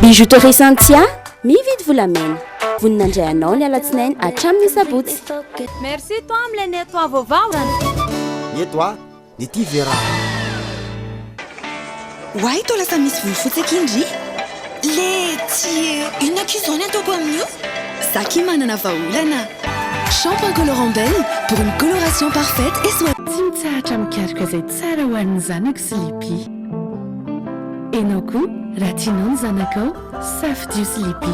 Bijouterie Santia, mividy volamena. Vonona handray anao ny alatsinainy hatramin'ny sabotsy. Merci toi amin'ilay nettoie vaovao. Nettoie ny tia ve raha. Oay toa lasa misy volo fotsy aky ndry le tsy eh. Inona aky izao ny ataoko amin'io? Za aky manana vahaolana. Shampoing colorant Belle pour une coloration parfaite et soignante. Tsy mitsahatra mikaroka izay tsara ho an'ny zanako Sleepy. Enao koa raha tianao ny zanakao, safidio Sleepy.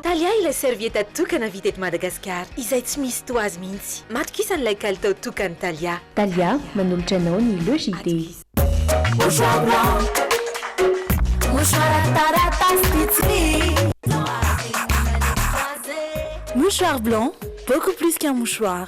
Talià ilay serviette tokana vita eto Madagasikara izay tsy misy toa azy mihitsy. Matokisany ilay kalitao tokan'i Talià. Talià, manolotra anao ny Le JT. Mouchoir blanc, mouchoir taratasy vitsy. Mouchoir blanc, beaucoup plus qu'un mouchoir.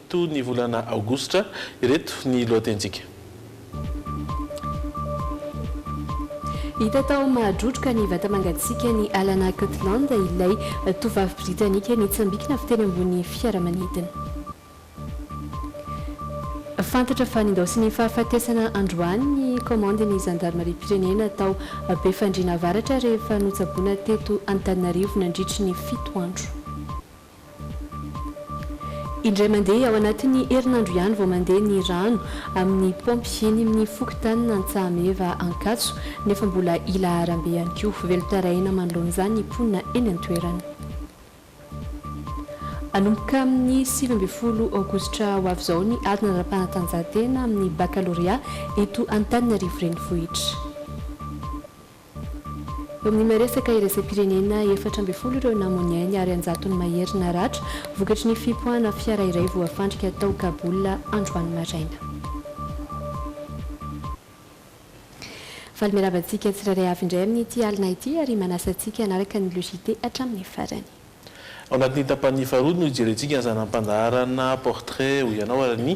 to ny volana aogositra. Ireto ny lohatenintsika. Hita tao Mahadrotroka ny vata-mangatsiakan'i Alana Cutland, ilay tovovavy Britanika nitsambikina avy teny ambony fiaramanidina. Fantatra fa nindaosin'ny fahafatesana androany ny kaomandin'ny zandarimariam-pirenena tao Befandriana Avaratra rehefa notsaboina teto Antananarivo nandritry ny fito andro. Indray mandeha ao anatin'ny herinandro ihany vao mandeha ny rano amin'ny paompy eny amin'ny fokontanin'Antsahameva Ankatso nefa mbola ila harambe ihany koa. Velon-tarehina manoloana izany ny mponina eny an-toerana. Hanomboka amin'ny sivy ambin'ny folo aogositra ho avy izao ny ady nanara-panatanjahantena amin'ny bakalorea eto Antananarivo Renivohitra. Eo amin'ny maha-resaka iraisam-pirenena, efatra ambin'ny folo ireo namoa ny ainy ary an-jatony mahery naratra, vokatry ny fipoahana fiara iray voafandrika tao Kabul, androany maraina. Faly miarahaba antsika tsirairay avy indray amin'ity alina ity ary manasa antsika hanaraka ny Le JT hatramin'ny farany. Ao anatin'ny tapany faharoa no hijerentsika ny zana-pandaharana Portrait ho ianao ary ny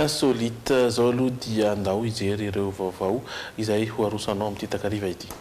Insolite. Izao aloha dia ndao hijery ireo vaovao izay ho aroso anao amin'ity takariva ity.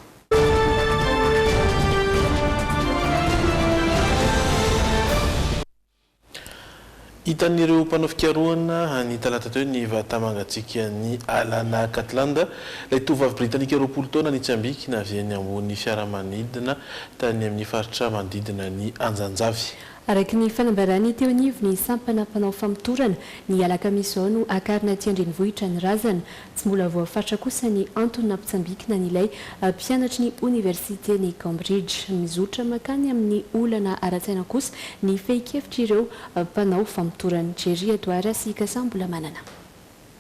Hitan'ireo mpanao fikarohana ny talata teo ny vata-mangatsiakan'i Alana Catland, ilay tovovavy Britanika roapolo taona nitsambikina avy eny ambony fiaramanidina tany amin'ny faritra manodidina ny Anjanjavy. Araka ny fanambaràn'ny teo anivon'ny sampana mpanao famotorana, ny alakamisy izao no hakarina aty an-drenivohitra ny razana. Tsy mbola voafatra kosa ny antony nampitsambikina an'ilay mpianatry ny oniversiten'i Cambridge. Mizotra mankany amin'ny olana ara-tsaina kosa ny fehin-kevitr'ireo mpanao famotorana. Jerry Adwara sy Kasa Mbolamanana.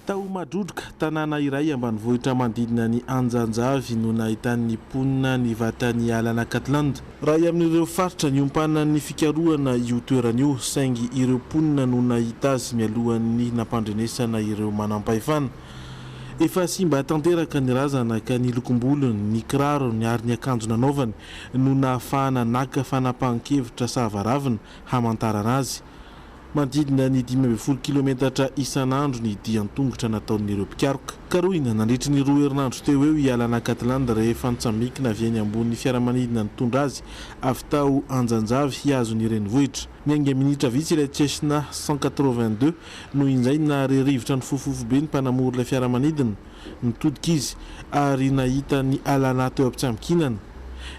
Tao Madrodroka, tanàna iray ambanivohitra manodidina an'i Anjanjavy no nahitan'ny mponina ny vatan'i Alana Catland. Iray amin'ireo faritra niompanan'ny fikarohana io toerana io, saingy ireo mponina no nahita azy mialohan'ny nampandrenesana ireo manampahefana. Efa simba tanteraka ny razana ka ny lokom-bolony, ny kirarony ary ny akanjo nanaovany no nahafahana naka fanapahan-kevitra sahavaravina hamantarana azy. Manodidina ny dimy ambin'ny folo kilometatra isan'andro ny dia an-tongotra nataon'ireo mpikaroka. Karohina nandritry ny roa herinandro teo ho eo i Alana Catland rehefa nitsambikina avy eny ambony fiaramanidina nitondra azy avy tao Anjanjavy hihazo ny renivohitra. Niainga minitra vitsy ilay Cessna cent quatre-vingt-deux no injay nahare rivotra nifofofo be ny mpanamory ilay fiaramanidina. Nitodika izy ary nahita an'i Alana teo am-pitsambikinana.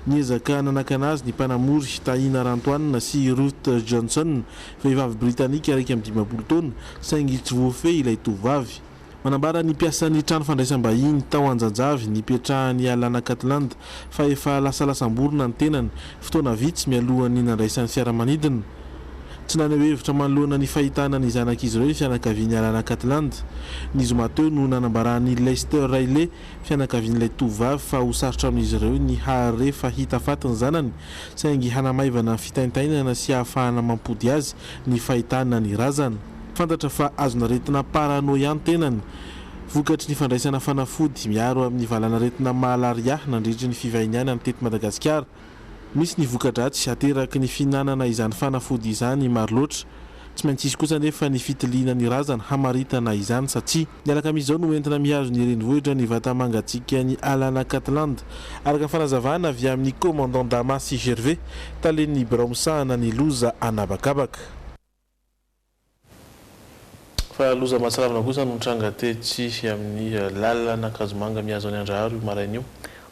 Niezaka nanakana azy ny mpanamory, Tahiana Rantoanina sy Ruth Johnson, vehivavy Britanika iraika amby dimampolo taona, saingy tsy voafehy ilay tovovavy. Manambara ny mpiasan'ny trano fandraisam-bahiny tao Anjajavy nipetrahan'i Alana Catland fa efa lasa lasam-borona ny tenany, fotoana vitsy mialohan'ny nandraisany fiaramanidina. Tsy naneho hevitra manoloana ny fahitana ny zanak'izy ireo ny fianakavian'i Alana Catland. Ny zoma teo no nanambarahan'i Lester Riley, fianakavian'ilay tovovavy, fa ho sarotra amin'izy ireo ny hahare fa hita faty ny zanany, saingy hanamaivana ny fitaintainana sy hahafahana mampody azy ny fahitana ny razana. Fantatra fa azon'aretina paranoia ny tenany, vokatry ny fandraisana fanafody miaro amin'ny valanaretina malaria nandritry ny fivahiniany any teto Madagasikara. Misy ny voka-dratsy ateraky ny fihinanana izany fanafody izany maro loatra. Tsy maintsy hisy kosa anefa ny fitiliana ny razana hamaritana izany satsia ny alakamisy izao no entina mihazo ny renivohitra ny vatamangatsiakan'i Alana Catland, araka ny fanazavana avy amin'ny Commandant Dama sy Gervais, talen'ny birao misahana ny loza an'habakabaka. Fa loza mahatsiravina kosa no nitranga tetsy amin'ny lalan'Ankazomanga mihazo an'i Andraharo io maraina io.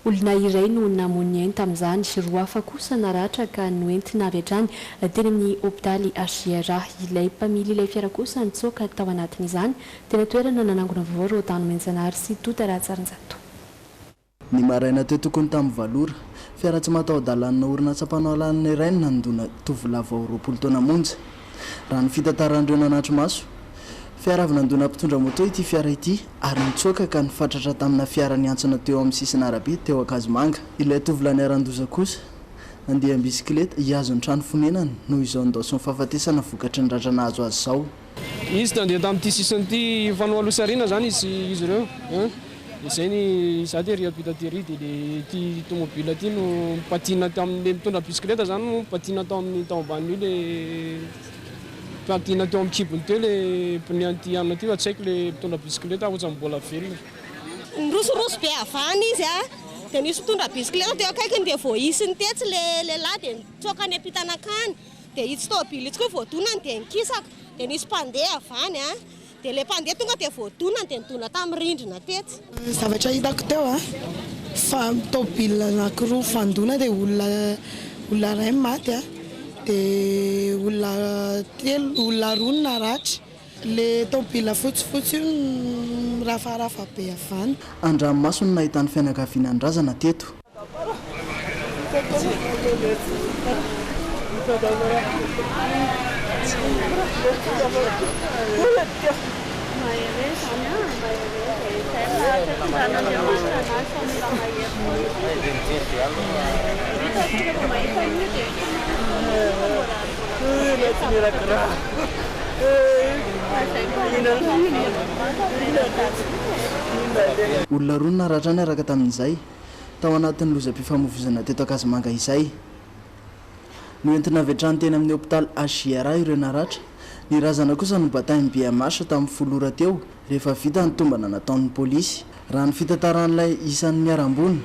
Olona iray no namoy ny ainy tamin'izany, roa hafa kosa naratra ka noentina avy hatrany teny amin'ny hopitaly HJR. Ilay mpamily ilay fiara kosa nitsoaka tao anatin'izany. Tena toerana nanangona vaovao Rôdan Omenjanahary sy Tota Rahajarinjato. Ny maraina teo tokony tamin'ny valo ora, fiara tsy mataho-dalànna orinasa mpanao alalana iray no nandona tovolahy vao roapolo taona monja. Raha ny fitantaran'ireo nanatri-maso, fiara avy nandona mpitondra moto ity fiara ity ary nitsoaka ka nifatratra tamina fiara niantsona teo amin'ny sisin'arabe teo Ankazomanga. Ilay tovolahy niharan-doza kosa, nandeha am-bisikileta, hihazo ny trano fonenany no izao nindaosin'ny fahafatesana vokatry ny ratra nahazo azy izao. Izy nandeha tamin'ity sisin'ity fanao aloha sy aoriana zany izy izy ireo an! dia zay ny za tery ampita tery dia le ity tomobile ity no patina tamin'ny le mitondra bisikileta zany no patina tao amin'ny tao ambanin'io le patina teo amin'ny kibony teo le pneu an'ity hanina ty fa tsy haiko le mitondra bisikileta ohatrany mbola velona. Nirosoroso be havana izy an! dia nisy mpitondra bisikileta teo akaikiny dia voaisiny tetsy le lehilahy dia nitsoaka any ampita nankany. Dia itsy tôbily itsy koa voadonany dia nikisaka, dia nisy mpandeha avy any an, dia ilay mpandeha tonga dia voadonany dia nidona tamin'ny rindrina tetsy. Zavatra hitako teo an, fa tôbily anakiroa mifandona dia olona olona iray no maty an, dia olona telo olona roa no naratra, le tôbily fotsifotsy io no mirafarafa be avy any. An-dranomaso no nahitany fianakaviana nodrazana teto. Olona roa no naratra niaraka tamin'izay. tao anatin'ny lozam-pifamoivoizana teto Ankazimanga izay. Noentina avy hatrany teny amin'ny hopitaly HJRA ireo naratra. Ny razana kosa nobatain'ny bmh tamin'ny folo ora teo rehefa vita ny tombana nataon'ny polisy. Raha ny fitantaran'ilay isan'ny niharam-boina,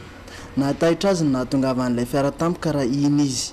nahataitra azy ny nahatongavan'ilay fiara tampoka raha iny izy.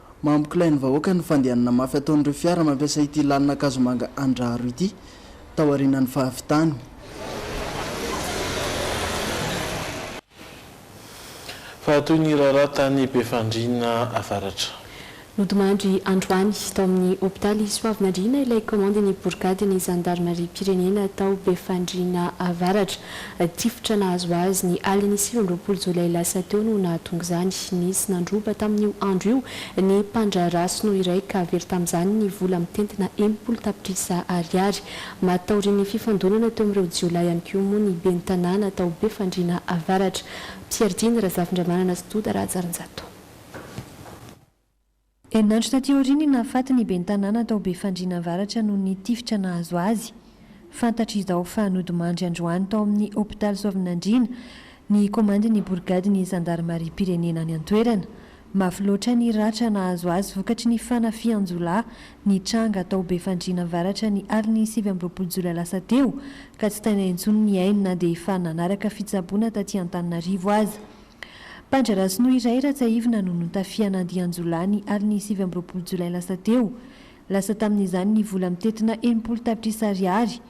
Mampikilay ny vahoaka ny fandehanana mafy ataon'ireo fiara mampiasa ity lalana Ankazomanga Andraharo ity, taorianan'ny fahavitany. Fa toy ny raharaha tany Befandriana Avaratra. Nodimandry androany, tao amin'ny hopitaly Soavinandriana ilay kaomandin'ny borigadin'ny zandarimariam-pirenena tao Befandriana Avaratra. Tifitra nahazo azy ny alin'ny sivy amby roapolo jolay lasa teo no nahatonga izany. Nisy nandroba tamin'io andro io ny mpandraharaha sinoa iray ka very tamin'izany ny vola mitentina enimpolo tapitrisa ariary. Maty taorian'ny fifandonana teo amin'ireo jiolahy ihany koa moa ny ben'ny tanàna tao Befandriana Avaratra, Pierre Diny Razafindramanana sy Doda Rahajarinjato. Herinandro taty aoriana i Nahafaty ny ben'ny tanàna tao Befandriana Avaratra noho ny tifitra nahazo azy. Fantatra izao fa nodimandry androany tao amin'ny hopitaly Soavinandriana ny komandin'ny borigadin'ny zandarimariam-pirenena any an-toerana. Mafy loatra ny ratra nahazo azy vokatry ny fanafihan-jiolahy nitranga tao Befandriana Avaratra ny alin'ny sivy amby roapolo jolay lasa teo ka tsy taina intsony ny ainy na dia efa nanaraka fitsaboana taty Antananarivo aza. Padre Rasono iray Ratsahivina no notafihan'ny andian-jiolahy ny alin'ny sivy amby roapolo jolay lasa teo. Lasa tamin'izany ny vola mitentina enimpolo tapitrisa ariary.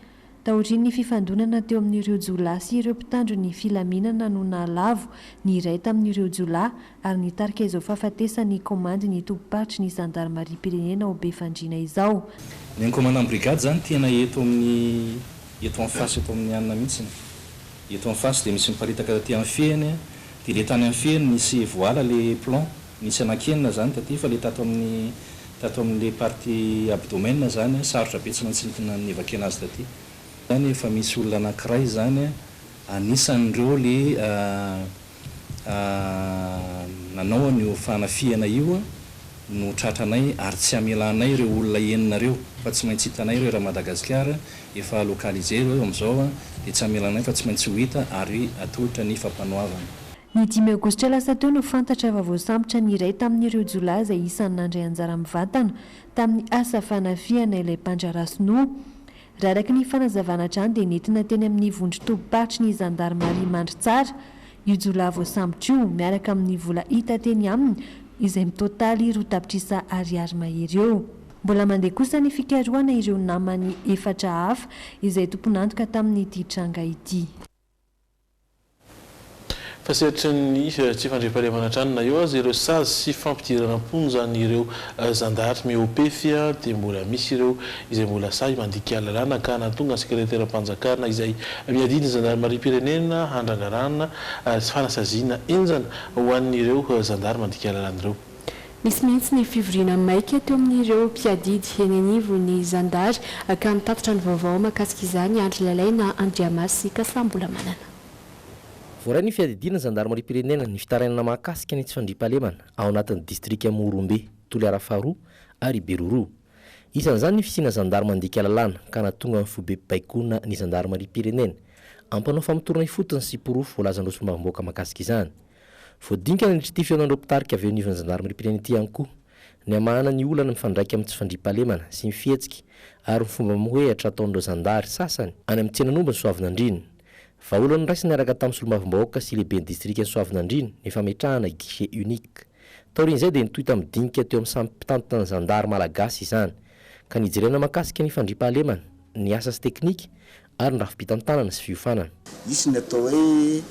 Taorian'ny fifandonana teo amin'ireo jiolahy sy ireo mpitandro ny filaminana no nahalavo ny iray tamin'ireo jiolahy ary nitarika izao fahafatesan'ny kaomandy ny tobim-paritry ny zandarimariam-pirenena ao Befandriana izao. Ny ankomanam-brigady izany tena eto amin'ny eto en face eto amin'ny anona mihitsiny. Eto en face dia misy miparitaka taty anfehiny a, dia le tany anfehiny nisy voala le plomb, nisy anankenina zany taty fa le tato amin'ny tato amin'le partie abdomen zany a sarotra be tsy maintsy nitna nivakena azy taty. Zany efa misy olona anankiray zany a anisan'ireo le. nanao an'io fanafihana io no tratranay ary tsy hamelanay ireo olona enina ireo fa tsy maintsy hitanay ireo raha Madagasikara efa localiser ireo amin'izao dia tsy hamelanay fa tsy maintsy ho hita ary atolotra ny fampanoavana. Ny dimy aogositra lasa teo no fantatra fa voasambotra ny iray tamin'ireo jiolahy izay isan'ny nandray anjara mivantana tamin'ny asa fanafihana ilay mpandraharaha sinoa. Raha araka ny fanazavana hatrany dia nentina teny amin'ny vondron-tobim-paritry ny zandarimaria Mandritsara io jiolahy voasambotra io miaraka amin'ny vola hita teny aminy izay mitotaly roa tapitrisa ariary mahery eo. Mbola mandeha kosa ny fikarohana ireo namany efatra hafa izay tompon'antoka tamin'ity tranga ity. Fa sehatry ny tsy fandriampahalemana hatrany na eo aza ireo sazy sy fampidirana am-ponja an'ireo zandary mihoa-pefy dia mbola misy ireo izay mbola sahy mandika lalàna ka nahatonga ny sekreteram-panjakana izay miadidy ny zandarimariam-pirenena handrangarana fanasaziana henjana ho an'ireo zandary mandika lalàna ireo. Nisy mihitsy ny fivoriana maika teo amin'ireo mpiadidy eny anivon'ny zandary ka mitatitra ny vaovao mahakasika izany Andry Lalaina, Andriamasy sy Kasambolamanana. Voaray ny fiadidiana zandarimariam-pirenena ny fitarainana mahakasika ny tsy fandriampahalemana ao anatin'ny distrika Morombe, Toliara faharoa ary Beroroha. Isan'izany ny fisiana zandary mandika lalàna ka nahatonga ny foibe baikona ny zandarimariam-pirenena. Ampanao famotorana ifotony sy porofo voalazan'ireo solombavambahoaka mahakasika izany. Voadinika nandritra ity fihaonan'ireo mpitarika avy eo anivon'ny zandarimariam-pirenena ity ihany koa ny hamahana ny olana mifandraika amin'ny tsy fandriampahalemana sy ny fihetsiky ary ny fomba mamohehatra ataon'ireo zandary sasany any amin'ny tsenan'ombin'i Soavinandriana. Vahaolana noraisina niaraka tamin'ny solombavambahoaka sy lehiben'ny distrikan'i Soavinandriana ny fametrahana guichet unique. Taorian'izay dia nitohy tamin'ny dinika teo amin'ny samy mpitantana ny zandary malagasy izany ka nijerena mahakasika ny fandriampahalemana, ny asa sy teknika ary ny rafi-pitantanana sy fiofanana. Hisy ny atao hoe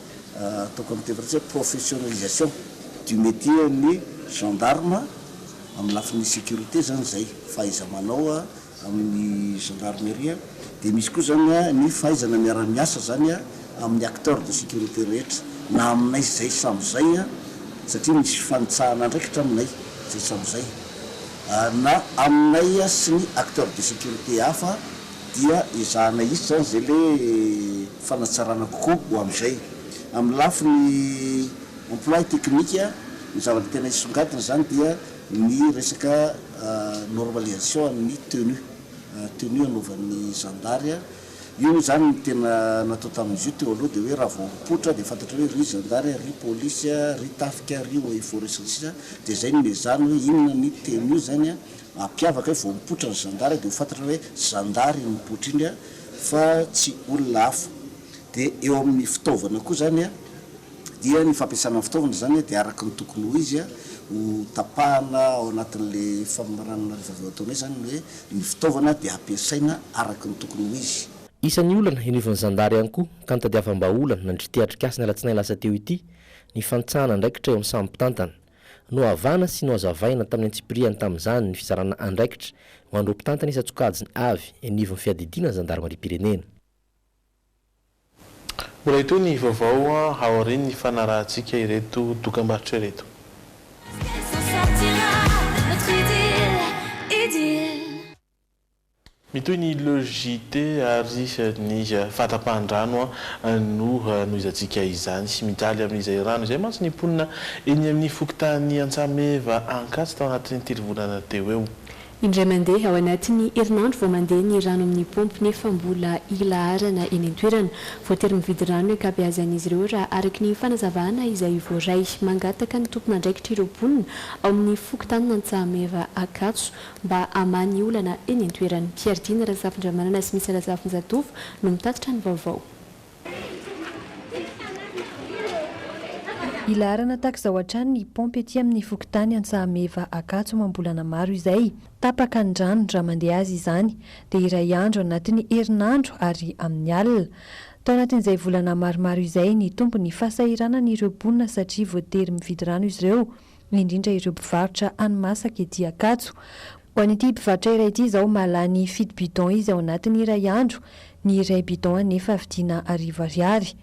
ataoko amin'ny teny frantsay hoe professionalisation du métier an'ny gendarme amin'ny lafiny sécurité izany izay fahaiza-manao amin'ny gendarmerie dia misy koa izany ny fahaizana miara-miasa izany amin'ny acteurs de sécurité rehetra na aminay izay samy izay satria misy fifanitsahana andraikitra aminay izay samy izay na aminay sy ny acteurs de sécurité hafa. dia ezahana hisy izany izay le fanatsarana kokoa ho amin'izay. Amin'ny lafiny emploi technique, ny zavatra tena hisongadina izany dia ny resaka normalisation an'ny tenue, tenue anaovan'ny zandary. Io moa izany ny tena natao tamin'izy io teo aloha dia hoe raha vao mipoitra dia fantatra hoe ry zandary, ry polisy, ry tafika, ry eaux et forêts sy ny sisa, dia izay no ezahana hoe inona ny tenue izany. Mampiavaka hoe vao mipoitra ny zandary dia ho fantatra hoe zandary iny mipoitra iny fa tsy olona hafa. Dia eo amin'ny fitaovana koa izany dia ny fampiasana ny fitaovana izany dia araka ny tokony ho izy ho tapahana ao anatin'ilay famaranana rehefa avy eo ataonao izany ny hoe ny fitaovana dia ampiasaina araka ny tokony ho izy. Isan'ny olana henoivan'ny zandary ihany koa ka nitadiavam-bahaolana nandritry ity atrikasa ny alatsinainy lasa teo ity ny fanitsahana andraikitra eo amin'ny samy mpitantana. Nohavana sy nohazavaina tamin'ny antsipirihany tamin'izany ny fizarana andraikitra ho an'ireo mpitantana isan-tsokajiny avy eny anivon'ny fiadidiana ny zandarimariam-pirenena. Mbola hitohy ny vaovao aorian'ny fanarahantsika ireto dokambarotra ireto. Est-ce qu'elle s'en sortira notre idylle, idylle. Mitohy ny Le JT ary ny fahatapahan-drano no hanohizantsika izany. Mijaly amin'izay rano izay mantsy ny mponina eny amin'ny fokontany Antsameva Ankatso tao anatin'ny telo volana teo ho eo. Indray mandeha ao anatin'ny herinandro vao mandeha ny rano amin'ny paompy nefa mbola ilaharana eny an-toerana. Voatery mividy rano ny ankabeazan'izy ireo raha araka ny fanazavana izay voaray. Mangataka ny tompon'andraikitra ireo mponina ao amin'ny fokontanin'Antsahameva Ankatso mba hamaha ny olana eny an-toerana. Piardina Razafindramanana sy Misa Razafinjatovo no mitatitra ny vaovao. Hilaharana tahak'izao hatrany ny paompy ety amin'ny fokontany Antsahameva Ankatso amam-bolana maro izay. Tapaka ny rano raha mandeha azy izany dia iray andro anatin'ny herinandro ary amin'ny alina. Tao anatin'izay volana maromaro izay nitombo ny fahasahiranan'ireo mponina satria voatery mividy rano izy ireo. indrindra ireo mpivarotra hani-masaka ety Ankatso. Ho an'ity mpivarotra iray ity izao, mahalany fito bidon izy ao anatiny iray andro, ny iray bidon anefa vidiana arivo ariary.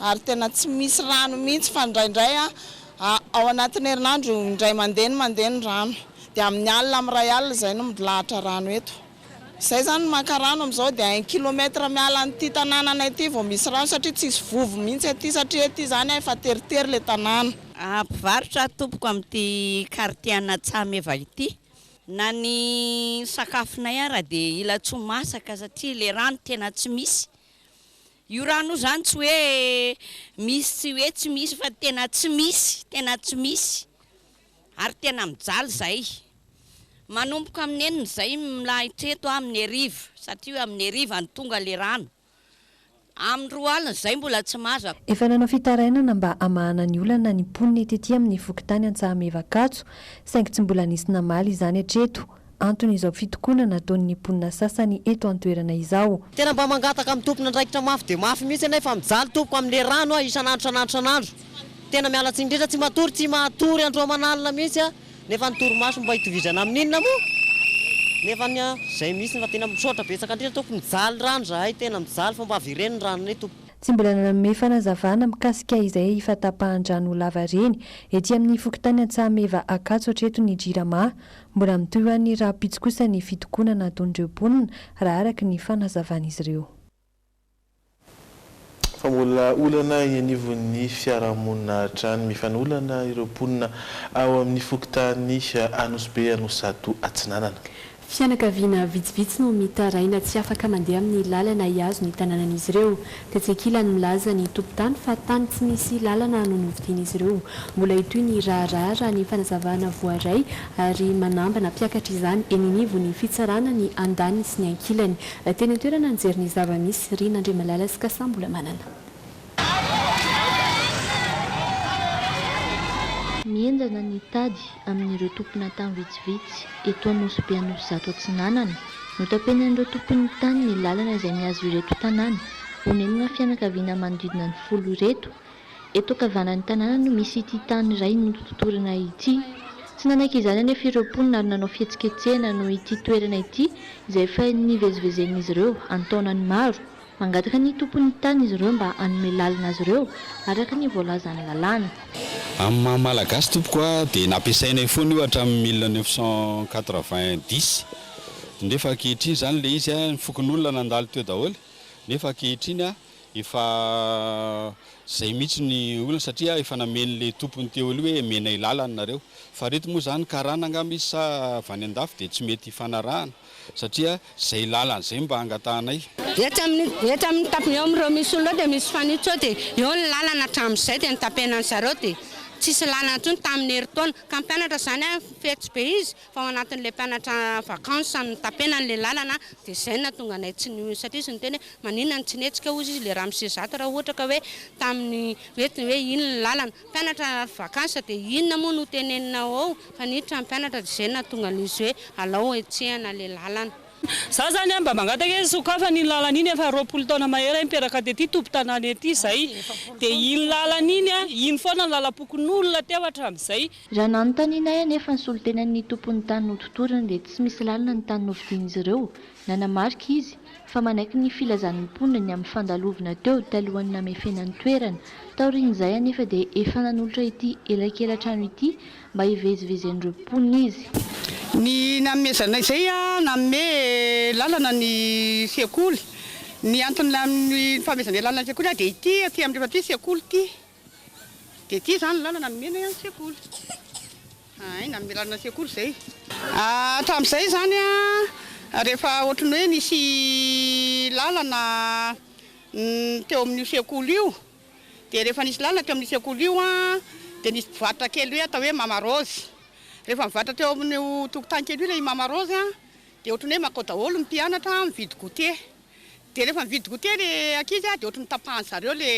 Ary tena tsy misy rano mihitsy fa indraindray ao anatin'ny herinandro indray mandeha ny mandeha ny rano, dia amin'ny alina amin'ny iray alina izay no milahatra rano eto. Izay izany no maka rano amin'izao dia un kilomètre miala an'ity tanananay ity vao misy rano satria tsisy vovo mihitsy aty satria ety izany a efa teritery ilay tanàna. Mpivarotra aho tompoko amin'ity quartier Anatsaha meva ity. Na ny sakafonay ara dia ilatsoa masaka satria ilay rano tena tsy misy. Io rano io izany tsy hoe misy sy hoe tsy misy fa tena tsy misy, tena tsy misy ary tena mijaly izay. Manomboka amin'ny enina izay milahitra eto amin'ny hariva satria amin'ny hariva no tonga ilay rano. Amin'ny roa alina izay mbola tsy mazaka. Efa nanao fitarainana mba hamahana ny olana ny mponina ety-tia amin'ny fokontany Antsahameva Ankatso saingy tsy mbola nisy namaly izany hatreto. Antony izao fitokonana ataon'ny mponina sasany eto an-toerana izao. Tena mba mangataka amin'ny tompon'andraikitra mafy dia mafy mihitsy ianay fa mijaly tompoko amin'ilay rano aho isan'andro isan'andro isan'andro. Tena miala tsiny indrindra, tsy matory, tsy mahatory andro aman'alina mihitsy aho Nefa ny torimaso mba itovizana amin inona moa nefa ny an zay mihitsiny fa tena misaotra betsaka indrindra tompoko mijaly rano zahay tena mijaly fa mba averen ny ranonay tompoko. Tsy mbola nanome fanazavana mikasika izay fatapahan-drano lava ireny ety amin'ny fokontany Antsahameva Ankatso hatreto ny Jirama. Mbola mitohy ho an'ny rahampitso kosa ny fitokonana ataon'ireo mponina, raha araka ny fanazavan'izy ireo. Fa mbola olana eny anivon'ny fiarahamonina hatrany mifanolana ireo mponina ao amin'ny fokontany Anosibe Anosizato Atsinanana. Fianakaviana vitsivitsy no mitaraina tsy afaka mandeha amin'ny lalana hihazo ny tanànan'izy ireo. Tetsy ankilany milaza ny tompon-tany fa tany tsy nisy lalana no novidian'izy ireo. Mbola hitohy ny raharaha raha ny fanazavana voaray ary manambana mpiakatra izany eny anivon'ny fitsarana ny andaniny sy ny ankilany. Teny an-toerana nijery ny zava-misy, Rina Andriamalala sy Kasa Mbolamanana. Mihenjana ny tady amin'ireo tomponatany vitsivitsy eto Anosibe Anosizato Atsinanana. Notapenan'ireo tompon'ny tany ny lalana izay mihazo ireto tanàna. Onenina fianakaviana manodidina ny folo ireto Eto an-kavanan'ny tanàna no misy ity tany iray nototorana ity. Tsy nanaiky izany anefa ireo mponina ary nanao fihetsiketsehana noho ity toerana ity izay efa nivezivezen'izy ireo an-taonany maro. Mangataka ny tompon'ny tany izy ireo mba hanome lalana azy ireo araka ny voalazan'ny lalàna. Amin'ny maha Malagasy tompoko ahy dia nampiasainay foana io hatramin'ny mille neuf cent quatre-vingt dix nefa ankehitriny izany ilay izy, ny fokonolona nandalo teo daholo nefa ankehitriny Efa zay mihitsy ny olana satria efa nameny le tompony teo aloha hoe emenay lalana nareo. Fa reto moa zany karana angamba izy sa avy any andafy dia tsy mety hifanarahana satria zay lalana zay mba angatahanay. Etsy amin'ny etsy amin'ny tap eo amin'ireo misy olona eo dia misy fanitso dia eo ny lalana hatramin'izay dia notapenan'zareo dia tsisy lalana intsony tamin'ny herintaona ka mpianatra zany an fetsy be izy Fa ao anatin'ilay mpianatra en vacances no notapena an'ilay lalana dia izay no nahatonga anay tsy nihetsika. Satria izy niteny hoe maninona no tsy nihetsika hozy izy, ilay ramose zato raha ohatra ka hoe tamin'ny hoe hoe iny ny lalana. Mpianatra en vacances dia inona moa no teneninao ao? Fa niditra ny mpianatra dia izay no nahatonga an'izy hoe alao hetsehana ilay lalana. Izaho izany an mba mangataka hoe sokafana iny lalana iny, efa roapolo taona mahery ahy nipetraka tety tompon-tanàna ety izay dia iny lalana iny an, iny foana no lalam-pokonolona teo hatramin'izay. Raha nanontanianay anefa ny solontenan'ny tompon'ny tany nototoriny dia tsy misy lalina ny tany novidian'izy ireo. Nanamarika izy, fa manaiky ny filazan'ny mponina ny amin'ny fandalovana teo talohan'ny namefena ny toerana. Taorian'izay anefa dia efa nanolotra ity elakelan-trano ity mba hivezivezen'ireo mponina izy. Ny nanomezanay izay dia nanome lalana ny sekoly. Ny anton'ilay amin'ny fanomezanay lalana ny sekoly dia ity aty amin'ny rehefa ity sekoly ity. Dia ity izany ny lalana nomena hoe an'ny sekoly. Hay, nanome lalana ny sekoly izay. Hatramin'izay izany rehefa ohatran'ny hoe nisy lalana teo amin'io sekoly io, dia rehefa nisy lalana teo amin'io sekoly io dia nisy mpivarotra kely hoe atao hoe Mama Rose. Rehefa mivarotra teo amin'io tokotany kely io ilay Mama Rose dia ohatran'ny hoe mankao daholo ny mpianatra mividy goûter. Dia rehefa mividy goûter le ankizy dia ohatry ny tapahan'ny zareo le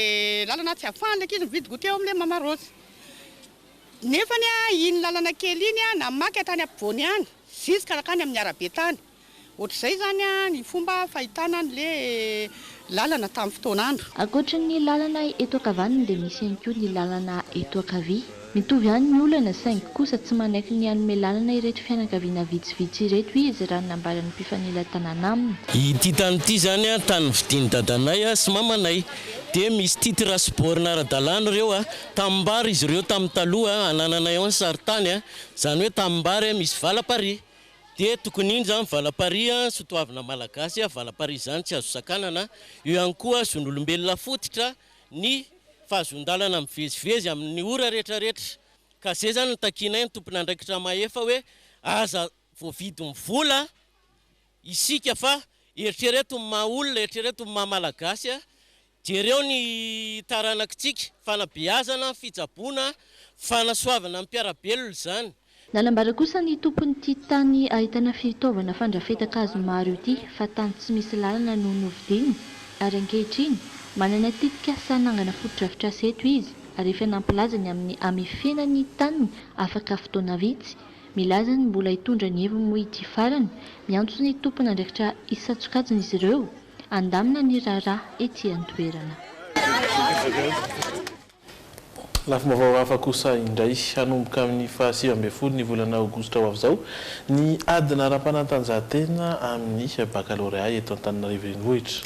lalana tsy afahan'ilay ankizy mividy goûter ao amin'ilay mama Rose. Nefany iny lalana kely iny namaky hatrany ampovoany any jusque hatrany amin'ny arabe tany. Ohatr'izay izany ny fomba fahitana an'le lalana tamin'ny fotoan'andro. Ankoatry ny lalana eto ankavanana dia misy ihany koa ny lalana eto ankavia. Mitovy ihany ny olana saingy kosa tsy manaiky ny hanome lalana ireto fianakaviana vitsivitsy ireto izy raha ny nambaran'ny mpifanila-tanàna aminy. Ity tany ity izany an, tany novidian'i dadanay sy mamanay. Dia misy titre sy borne ara-dalàna ireo an, tanimbary izy ireo tamin'ny taloha, anananay ao ny sarintany an, izany hoe tanimbary an, misy valaparihy. Dia tokony iny izany valaparihy an, soa toavina malagasy an, valaparihy izany tsy azo sakanana. Eo ihany koa zon'olombelona fototra. ny fahazoan-dalana mivezivezy amin'ny ora retraretra ka zay zany no takianay ny tompon'andraikitra mahefa hoe aza voavidin'ny vola isika fa eritrereto ny maha olona, eritrereto ny maha malagasy, jereo ny taranakitsika, fanabeazana, fitsaboana, fanasoavana ny mpiara-belona izany. Nanambara kosa ny tompon'ity tany ahitana fitaovana fandrafetan-kazo maro ity fa tany tsy misy lalana no novidiany ary ankehitriny manana tetikasa hanangana fotodrafitrasa eto izy ary efa nampilaza ny amin'ny hamefena ny taniny afaka fotoana vitsy. Milaza ny mbola hitondra ny heviny moa ity farany. Miantso ny tompon'andraikitra hisatsokajina izy ireo handamina ny raharaha ety an-toerana. Lafim-baovao hafa kosa indray, hanomboka amin'ny faha sivy ambin'ny folo ny volana aogositra ho avy izao ny ady nara-panatanjahantena amin'ny bakalorea eto Antananarivo Renivohitra.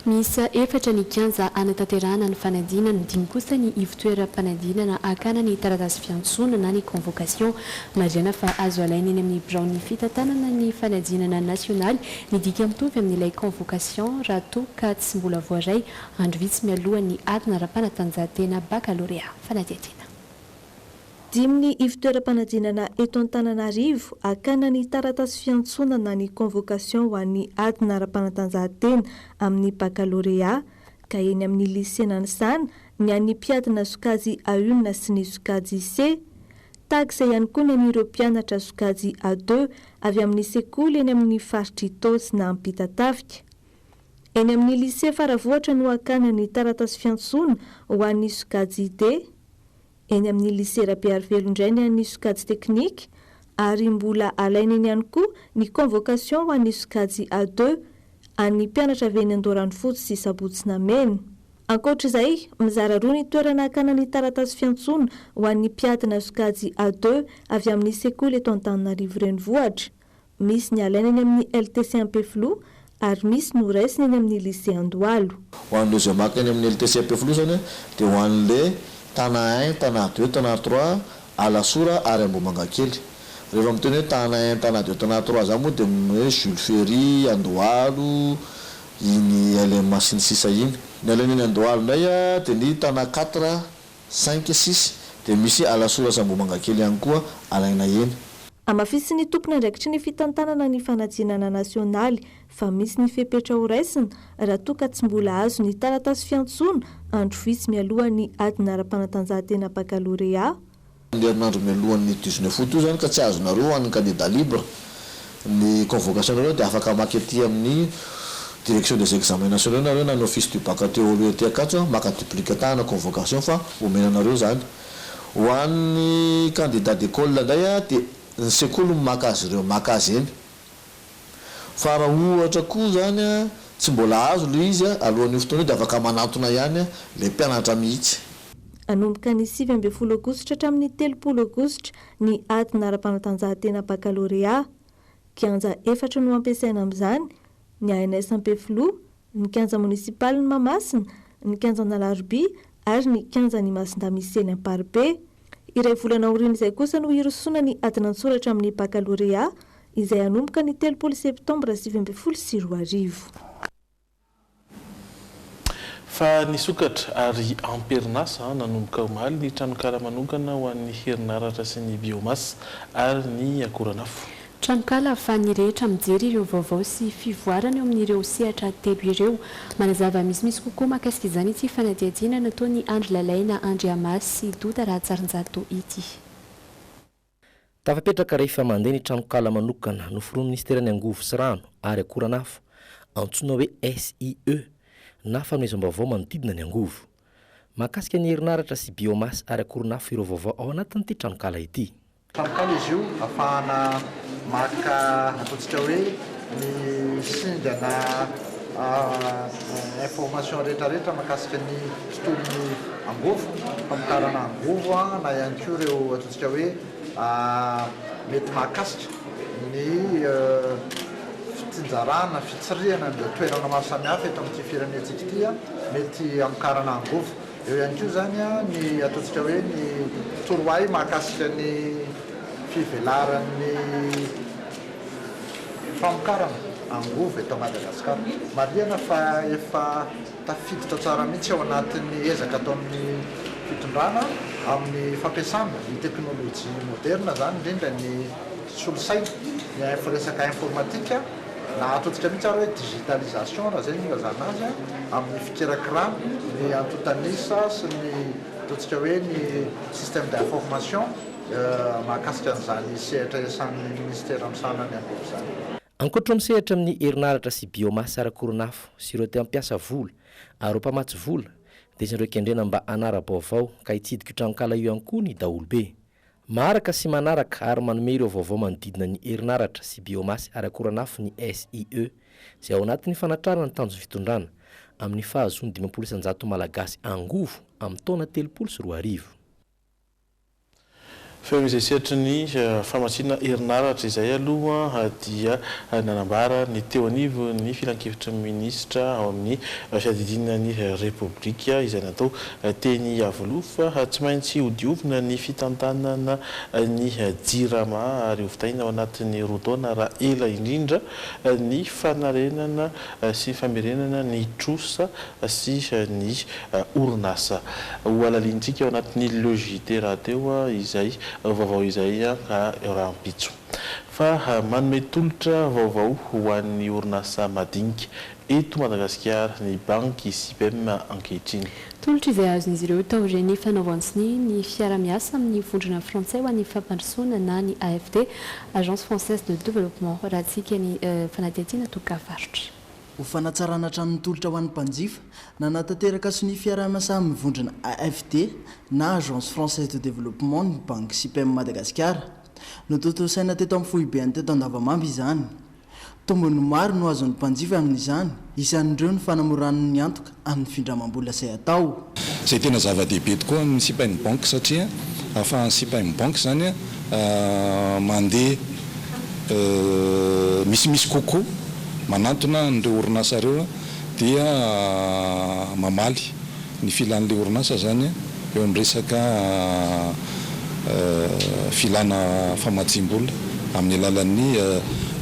Miisa efatra ny kianja hanatanterahana ny fanadinana, dimy kosa ny ivontoeram-panadinana hakana ny taratasy fiantsoana na ny convocation. Marihana fa azo alaina eny amin'ny biraon'ny fitantanana ny fanadinana nasionaly ny dika mitovy amin'ilay convocation raha toa ka tsy mbola voaray Andro vitsy mialoha ny ady nara-panatanjahantena bakalorea fanadihadiana. Dimin'ny ivon-toeram-panadinana eto Antananarivo hakana ny taratasy fiantsonana ny convocation ho an'ny ady nara-panatanjahantena amin'ny bakalorea ka eny amin'ny Lycée Nanisana ny an'ny mpiadina sokajy A-un sy ny sokajy Ise. Tagsa ihany koa ny an'ireo mpianatra sokajy A-deux avy amin'ny sekoly eny amin'ny faritr'i Tosna Ampitatafika. Eny amin'ny Lycée Faravohitra no hakana ny taratasy fiantsoana ho an'ny sokajy IT. Eny amin'ny Lycée Rabearivelo indray ny an'ny sokajy teknika ary mbola alaina eny ihany koa ny convocation ho an'ny sokajy A deux an'ny mpianatra avy eny Andoharanofotsy sy Sabotsy-Namena. Ankoatra izay, mizara roa ny toerana hakana ny taratasy fiantsoana ho an'ny mpiadina sokajy A deux avy amin'ny sekoly eto Antananarivo Renivohitra. Misy ny alaina eny amin'ny LTC Ampefiloha ary misy no raisina eny amin'ny Lycée Andohalo. Ho an'ireo izay maka eny amin'ny LTC Ampefiloha izany dia ho an'ilay Tana un, Tana deux, Tana trois, Alasora ary Ambohimangakely. Rehefa miteny hoe Tana un, Tana deux, Tana trois izany moa dia ny hoe Jules Ferry, Andohalo, iny LMH iny sisa iny. Ny alaina eny Andohalo indray dia ny Tana quatre, Saingy sisa dia misy alasoratra Ambohimanga kely ihany koa alaina eny. Hamafisin'ny tompon'andraikitry ny fitantanana ny fanadinana nasionaly fa misy ny fepetra horaisina raha toa ka tsy mbola azo ny taratasy fiantsoana andro vitsy mialohan'ny adina ara-panatanjahantena bakalorea, Ny herinandro mialohan'ny dix-neuf août io izany ka tsy azonareo ho an'ny kandida libre. Ny convocation nareo dia afaka maka ety amin'ny direction des examens nationaux nareo na ny office du bac aty Oloa ety Ankatso maka duplicata na convocation fa omena anareo izany. Ho an'ny candidats d'école indray dia ny sekoly no maka azy ireo maka azy eny. Fa raha ohatra koa izany tsy mbola azo ilay izy alohan'io fotoana io dia afaka manantona ihany ilay mpianatra mihitsy. Hanomboka ny sivy ambin'ny folo aogositra hatramin'ny telopolo aogositra ny adina ara-panatanjahantena bakalorea. Kianja efatra no hampiasaina amin'izany, ny ANS Ampefiloha, ny kianja monisipalin'i Mahamasina, ny kianjan'Alarobia ary ny kianjan'i Masindamisy eny Amparibe. Iray volana aorian'izay kosa no hirosoana ny adin'an-tsoratra amin'ny bakalorea izay hanomboka ny telopolo septambra sivy ambin'ny folo sy roa arivo. Fa nisokatra ary am-perinasa nanomboka omaly ny tranonkala manokana ho an'ny herinaratra sy ny biomasa ary ny akoranafo. Tranonkala ahafahan'ny rehetra mijery ireo vaovao sy fivoarana eo amin'ireo sehatra telo ireo. Manazava misimisy kokoa mahakasika izany ity fanadihadiana nataon'i Andry Lalaina Andriamasy sy Doda Rahatsarinjato ity. Tafapetraka rehefa mandeha ny tranonkala manokana noforonin'ny Minisiteran'ny Angovo sy Rano ary Akoranafo, antsoina hoe SIE, na fanomezam-baovao manodidina ny angovo. Mahakasika ny herinaratra sy biomasse ary akoronafo ireo vaovao ao anatin'ity tranonkala ity. Tranonkala izy io afahana maka ataontsika hoe ny singana information rehetrarehetra makasika ny tontolon'ny angovo, famokarana angovo na ihany koa ireo. Ka hoe mety mahakasika ny fitsinjarana, fitsirihana an'ireo toerana maro samihafa eto amin'ity firenentsika ity, mety hamokarana angovo. Eo ihany koa izany ny ataontsika hoe ny torohay mahakasika ny fivelaran'ny famokarana angovo eto Madagasikara. Marihana fa efa. Tafiditra tsara mihitsy ao anatin'ny ezaka ataon'ny fitondrana amin'ny fampiasana ny teknolojia moderina izany, indrindra ny solosaina, ny info resaka informatika, na ataontsika mihitsy ary hoe digitalisation raha izay no ilazana azy an, amin'ny fikirakirana ny antontan'isa sy ny ataontsika hoe ny système d'information mahakasika an'izany sehatra iasan'ny minisitera misahana ny angova izany. Ankoatra ireo misehatra amin'ny herinaratra sy biomasse ara-koron'afo sy ireo te hampiasa vola ary ho mpamatsy vola dia isan'ireo kendrena mba hanara-baovao ka hitsidika io tranonkala io ihany koa ny daholobe. Maharaka sy manaraka ary manome ireo vaovao manodidina ny herinaratra sy biomasse ara-koran'afo ny SIE izay ao anatin'ny fanatrarana ny tanjon'ny fitondrana amin'ny fahazoan'ny dimampolo isan-jato Malagasy angovo amin'ny taona telopolo sy roa arivo. Fa eo izay sehatry ny famatsiana herinaratra izay aloha dia nanambara ny teo anivo ny filankevitry ny minisitra ao amin'ny fiadidiana ny Repoblika izay natao teny Iavoloha fa tsy maintsy hodiovina ny fitantanana ny Jirama ary hovitaina ao anatin'ny roa taona raha ela indrindra ny fanarenana sy famerenana ny trosa sy ny orinasa hohalalinintsika ao anatin'ny Le JT rahateo izay vaovao izay rahampitso. Fa manome tolotra vaovao ho an'ny orinasa madinika eto Madagasikara ny banky Sipem ankehitriny. Tolotra izay azon'izy ireo taorian'ny fanaovan-tsonia ny fiarahamiasa amin'ny vondrona frantsay ho an'ny fampandrosoana na ny AFD, Agence Française de Développement, raha haditsiaka ny fanadihadiana toka varotra. Ho fanatsarana trano mitolotra ho an'ny mpanjifa, nanatanteraka sonia fiaraha-miasa amin'ny vondrona AFD na Agence Française de Développement ny Banky Sipem Madagasikara. Notontosaina teto amin'ny foibeny teto Andavamamba izany. Tombony maro no azon'ny mpanjifa amin'izany, isan'ireo ny fanamorana ny antoka amin'ny findramam-bola izay atao. Izay tena zava-dehibe tokoa amin'ny sipa in bank satria ahafahan'ny sipa in bank izany mandeha misimisy kokoa, manantona an'ireo orinasa ireo dia mamaly ny filan'ilay orinasa izany eo amin'ny resaka filana famatsiam-bola amin'ny alalan'ny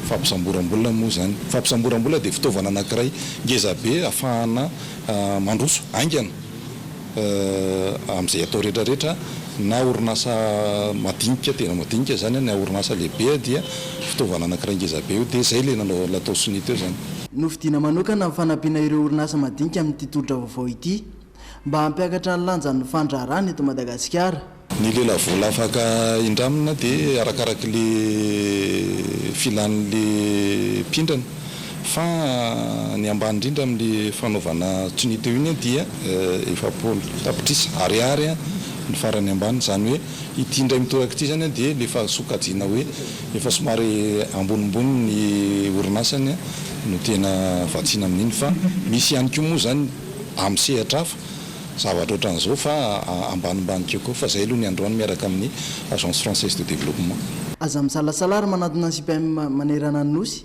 fampisamboram-bola moa izany. Fampisamboram-bola dia fitaovana anankiray Ngeza be afahana mandroso haingana amin'izay atao rehetra rehetra na orinasa madinika tena madinika zany na orinasa lehibe dia fitaovana anakiray ngeza be io dia zay le natao sonia teo zany. Novidiana manokana ny fanampiana ireo orinasa madinika amin'ity tolotra vaovao ity mba hampiakatra ny lanjan'ny fandraharahana eto Madagasikara. Ny lela vola afaka indramina dia arakaraky le filan'ny le mpindrana fa ny ambany indrindra amin'le fanaovana tsonia teo iny dia efapolo tapitrisa ariary ny farany ambany izany hoe ity indray mitoraka ity izany dia le efa sokajiana hoe efa somary ambonimbony ny orinasany no tena vatsiana amin'iny fa misy ihany koa moa izany amin'ny sehatra hafa zavatra ohatran'izao fa ambanimbany kokoa fa izay aloha ny androany miaraka amin'ny Agence Française de Développement. Aza misalasala ary manantona ny CPAM manerana ny Nosy.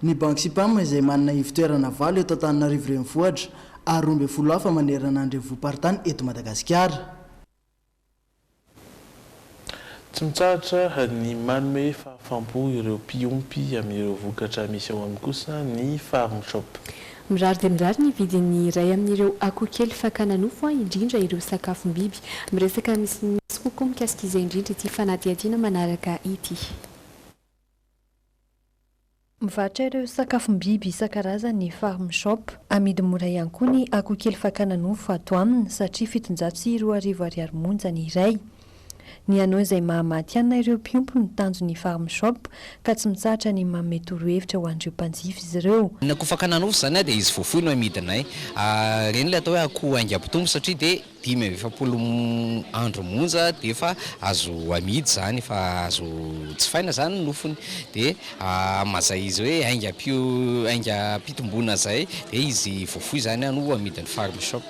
Ny banky CPAM izay manana ivo-toerana valo eto Antananarivo Renivohitra ary roa ambin'ny folo hafa manerana ny Renivohi-paritany eto Madagasikara. Tsy mitsahatra ny manome fahafaham-po ireo mpiompy amin'ireo vokatra misy ao aminy kosa ny Farm Shop. Mirary dia mirary ny vidin'ny iray amin'ireo akoho kely fakana nofo an, indrindra ireo sakafom-biby. Miresaka misimisy kokoa mikasika izay indrindra ity fanadihadiana manaraka ity. Mivarotra ireo sakafom-biby isan-karazany ny Farm Shop. Amidy mora ihany koa ny akoho kely fakana nofo ato aminy satria fitonjato sy roa arivo ariary monja ny iray. Ny hanao izay mahamatihanina ireo mpiompy no tanjon'ny Farm Shop ka tsy mitsahatra ny manome torohevitra ho an'ireo mpanjifa izy ireo. Ny akoho fakana nofo izany dia izy voafoy no amidinay. Ireny ilay atao hoe akoho haingam-pitombo satria dia. Dimy amby efapolo andro monja dia efa azo amidy izany, efa azo jifaina izany ny nofony, dia amin'izay izy hoe aingam-pio, aingam-pitomboana izay dia izy voafoy izany no amidin'ny Farm Shop.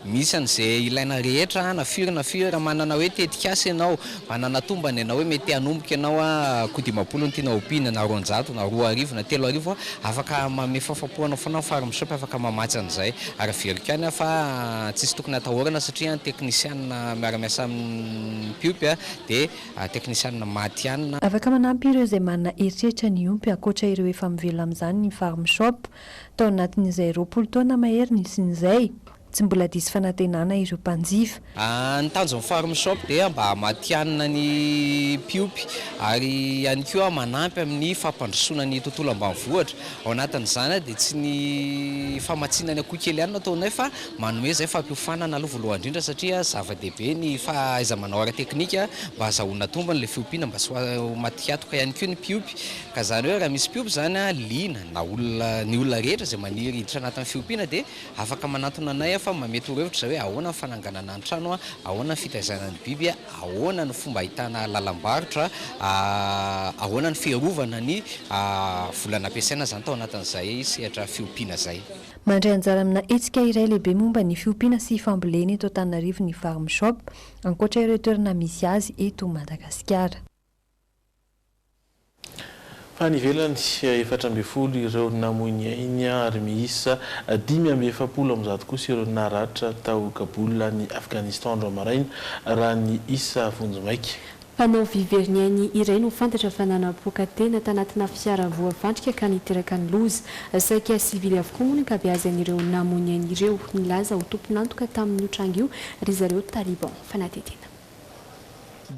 Misy an'izay ilaina rehetra na firy na firy, raha manana hoe tetikasa ianao, Hanana tombana ianao hoe mety hanomboka ianao koa dimampolo ny tianao ompiana na roanjato na roa arivo na telo arivo afaka manome fahafam-po anao foana ny Farm Shop afaka mamatsy an'izay ary averiko ihany aho fa tsisy tokony hatahorana satria ny teknisianina miara-miasa amin'ny mpiompy dia teknisianina maty ihany na Afaka manampy ireo izay manana eritreritra ny hiompy ankoatra ireo efa mivelona amin'izany ny Farm Shop tao anatin'izay roapolo taona maheriny sy ny izay Tsy mbola diso fanantenana ireo mpanjifa. Ny tanjon'ny Farm Shop dia mba hamatihanina ny mpiompy ary ihany koa manampy amin'ny fampandrosoana ny tontolo ambanivohitra. Ao anatin'izany dia tsy ny famatsiana ny akoho kely ihany no ataonay fa manome izay fampiofanana aloha voalohany indrindra satria zava-dehibe ny fahaiza-manao ara-teknika mba hazahoana tombony ilay fiompiana mba tsy ho maty hatoka ihany koa ny mpiompy. Ka izany hoe raha misy mpiompy izany liana na olona ny olona rehetra izay maniry hiditra anatin'ny fiompiana dia Afaka manantona anay aho fa mba mety torohevitra izay hoe ahoana ny fananganana ny trano, ahoana ny fitaizana ny biby, ahoana ny fomba ahitana lalam-barotra, ahoana ny fiarovana ny vola nampiasaina izany tao anatin'izay sehatra fiompiana izay. Mandray anjara amina hetsika iray lehibe momba ny fiompiana sy fambolena eto Antananarivo ny Farm Shop, ankoatra ireo toerana misy azy eto Madagasikara. Fa any ivelany, efatra ambin'ny folo ireo namoy ny ainy ary miisa dimy amby efapolo amin'ny zato kosa ireo naratra tao Kabul any Afghanistan andro maraina, raha ny isa vonjimaika. Mpanao vy very ny ainy iray no fantatra fa nanapoaka tena tanatina fiara voafandrika ka niteraka ny loza. Saika sivily avokoa moa ny ankabeazan'ireo namoy ny ainy ireo. Nilaza ho tompon'antoka tamin'io tranga io ry zareo Taliban fanadihadiana.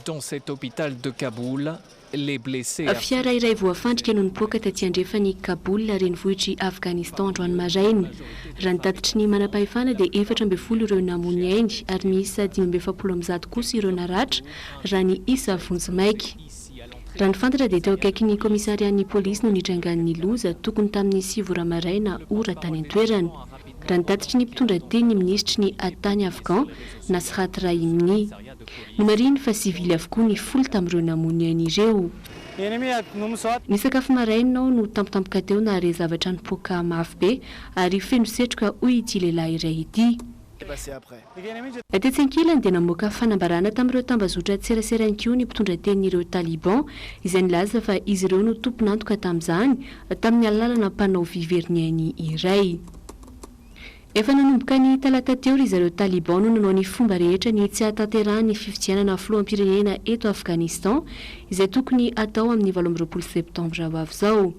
Dans cet hôpital de Kaboul, les blessés affectés. Fiara iray voafandrika no nipoaka taty andrefan'i Kaboul, renivohitr'i Afghanistan androany maraina. Raha ny tatitry ny manampahefana dia efatra ambin'ny folo ireo namoa ny ainy ary miisa dimy amby efapolo amin'ny zato kosa ireo naratra raha ny isa vonjimaika. Raha ny fantatra dia teo akaikin'ny kaomisarian'ny polisy no nitrangan'ny loza, tokony tamin'ny sivy ora maraina ora tany an-toerana. Raha ny tatitry ny mpitondra teny ny minisitry ny Atany Afghan, Nasrat Rahimni. Nomarihiny fa sivily avokoa ny folo tamin'ireo namono ny ainy ireo. Ny sakafo maraina aho no tampotampoka teo nahare zavatra nipoaka mafy be ary feno setroka, hoy ity lehilahy iray ity. Tetsy ankilany dia namoaka fanambarana tamin'ireo tambazotran-tserasera ihany koa ny mpitondra tenin'ireo Taliban, izay nilaza fa izy ireo no tompon'antoka tamin'izany, tamin'ny alàlana mpanao vy very ny ainy iray. Efa nanomboka ny talata teo ry zareo Taliban no nanao ny fomba rehetra ny tsy hahatanterahan'ny fifidianana filoham-pirenena eto Afghanistan, izay tokony hatao amin'ny valo amby roapolo septambra ho avy izao.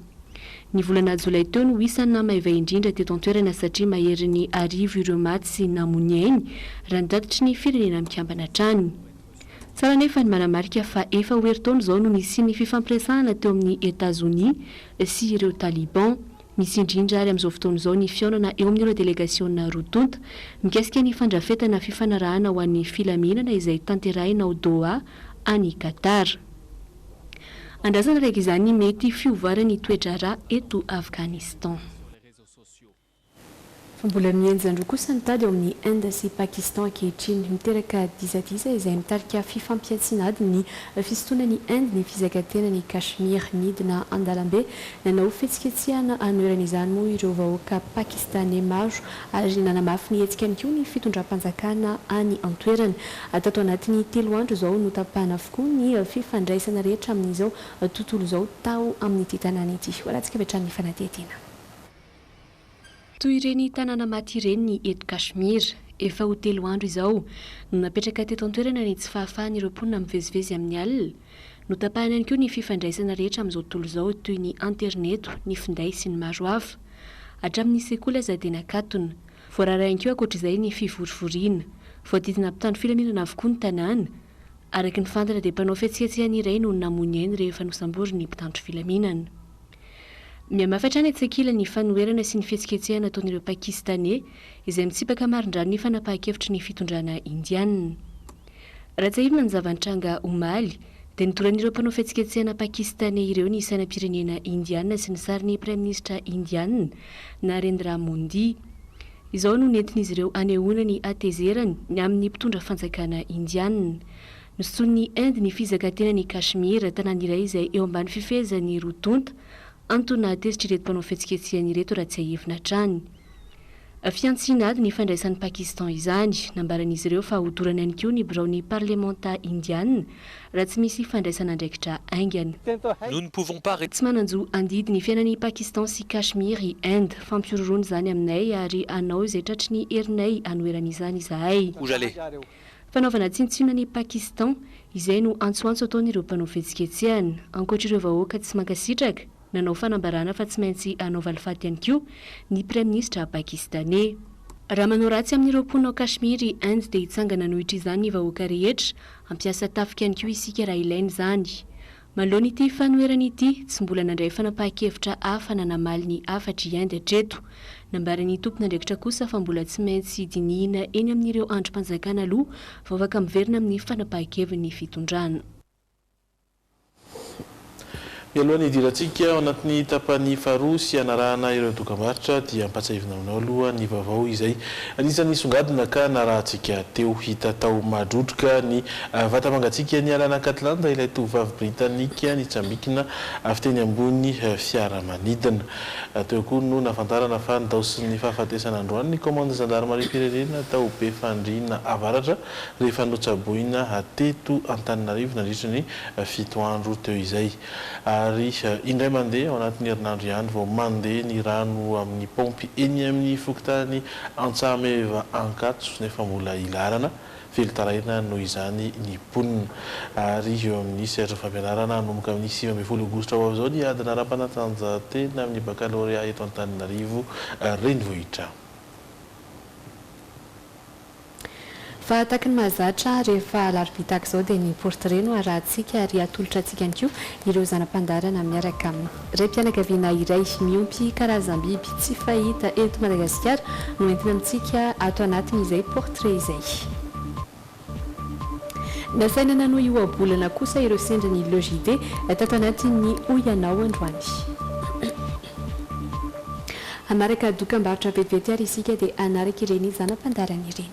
Ny volana jolay teo no isa namaiva indrindra teto an-toerana satria mahery ny arivo ireo maty sy namony ainy, raha ny tatitry ny Firenena Mikambana hatrany. Tsara anefa ny manamarika fa efa ho herintaona izao no nisian'ny fifampiresahana teo amin'i Etazonia sy ireo Taliban. Misy indrindra ary amin'izao fotoana izao ny fihaonana eo amin'ireo delegasiona roa tonta mikasika ny fandrafetana fifanarahana ho an'ny filaminana izay tanterahina ao Doha any Qatar. Andrasana araka izany ny mety fiovana ny toe-draharaha eto Afghanistan. Fa mbola mihenjan-droa kosa ny tady ao amin'ny Inde sy Pakistan ankehitriny. Miteraka disadisa izay mitarika fifampihantsiana ady ny fisintonana i Inde ny fizakan-tenan' i Kashmir nidina an-dalambe. Nanao fihetsiketsehana hanoherana izany moa ireo vahoaka Pakistaney maro ary nanamafy ny hetsikany koa ny fitondram-panjakana any an-toerana. Tato anatin'ny telo andro izao, notapahana avokoa ny fifandraisana rehetra amin'izao tontolo izao tao amin'ity tanàna ity. Ho alantsika avy hatrany ny fanadihadiana. Toy ireny tanàna maty ireny ny eto Kashmir. Efa ho telo andro izao no napetraka teto an-toerana ny tsy fahafahan'ireo mponina mivezivezy amin'ny alina, Notapahina ihany koa ny fifandraisana rehetra amin'izao tontolo izao toy ny aterineto, ny finday sy ny maro hafa. Hatramin'ny sekoly aza dia nakatona. Voarara ihany koa ankoatra izay ny fivorivoriana. Voadidina mpitandro filaminana avokoa ny tanàna. Araka ny fantatra dia mpanao fihetsiketsehana iray no namono ainy rehefa nosamborin'ny mpitandro filaminana. Mihamafy hatrany etsy ankilany ny fanoherana sy ny fihetsiketsehana ataon'ireo Pakistaney izay mitsipaka marindrano ny fanapahan-kevitry ny fitondrana Indiana. Raha tsiahivina ny zava-nitranga omaly, dia nidoran'ireo mpanao fihetsiketsehana Pakistaney ireo ny sainam-pirenena Indiana sy ny sarin'ny Praiminisitra Indiana, Narendra Modi. Izao no nentin'izy ireo hanehoana ny hatezerany ny amin'ny mpitondra fanjakana Indiana. Nosotron'ny Inde ny fizaka-tenan'i Kashmir, tanàna iray izay eo ambany fifehezan'ny roa tonta, Antony nahatezitra ireto mpanao fihetsiketsehana ireto raha tsiahivina hatrany. Fihantsiana ady ny fandraisan'i Pakistan izany. Nambaran'izy ireo fa hodorana ihany koa ny biraon'ny parlemanta Indiana raha tsy misy fandraisana andraikitra haingana. Nous ne pouvons pas rester. Tsy manan-jo handidy ny fiainan'i Pakistan sy Kashmir i Inde. Fampihorohoroana izany aminay ary hanao izay tratry ny herinay hanoherana izany izahay. Où j'allais. Fanaovana tsinontsinona an'i Pakistan, izay no antsoantso ataon'ireo mpanao fihetsiketsehana. Ankoatr'ireo vahoaka tsy mankasitraka, nanao fanambarana fa tsy maintsy hanao valifaty ihany koa ny Praiminisitra Pakistaney. Raha manao ratsy amin'ireo mponina ao Kashmir i Inde dia hitsangana anohitr'izany ny vahoaka rehetra, hampiasa tafika ihany koa isika raha ilaina izany. Manoloana ity fanoherana ity, tsy mbola nandray fanapahan-kevitra hafa na namaly ny hafatr' i Inde hatreto. Nambaran'ny tompon'andraikitra kosa fa mbola tsy maintsy dinihina eny amin'ireo andrim-panjakana aloha vao afaka miverina amin'ny fanapahan-keviny ny fitondrana. Mialoha ny hidirantsika ao anatin'ny tapany faharoa sy hanarahana ireo dokambarotra dia ampahatsiahivina aminao aloha ny vaovao izay anisan'ny nisongadina ka narahantsika teo. Hita tao Mahadrodroka ny Vata mangatsiaka nialana an'Catlanda ilay tovovavy Britanika nitsambikina avy teny ambony fiaramanidina. Teo koa no nahafantarana fa nidaosin'ny fahafatesana androany ny kaomandy zandarimariam-pirenena tao Befandriana Avaratra rehefa notsaboina teto Antananarivo nandritry ny fito andro teo izay. Ary indray mandeha ao anatin'ny herinandro ihany vao mandeha ny rano amin'ny paompy eny amin'ny fokontany Antsahameva Ankatso nefa mbola hilarana Velon-taraina noho izany ny mponina. Ary eo amin'ny sehatry ny fampianarana, hanomboka amin'ny sivy ambin'ny folo aogositra ho avy izao ny adina ara-panatanjahantena amin'ny bakalorea eto Antananarivo renivohitra. Fa tahaka ny mahazatra, rehefa alarobia tahaka izao dia ny portrait no arahantsika ary atolotra antsika ihany koa ireo zana-pandaharana miaraka aminy. Raim-pianakaviana iray miompy karazam-biby tsy fahita eto Madagasikara no entina amintsika ato anatin'izay portrait izay. Nasaina nanohy ohabolana kosa ireo sendran'ny Le JD tato anatin'ny Hoy Ianao androany. Hamaraka dokambarotra vetivety ary isika dia hanaraka ireny zana-pandaharana ireny.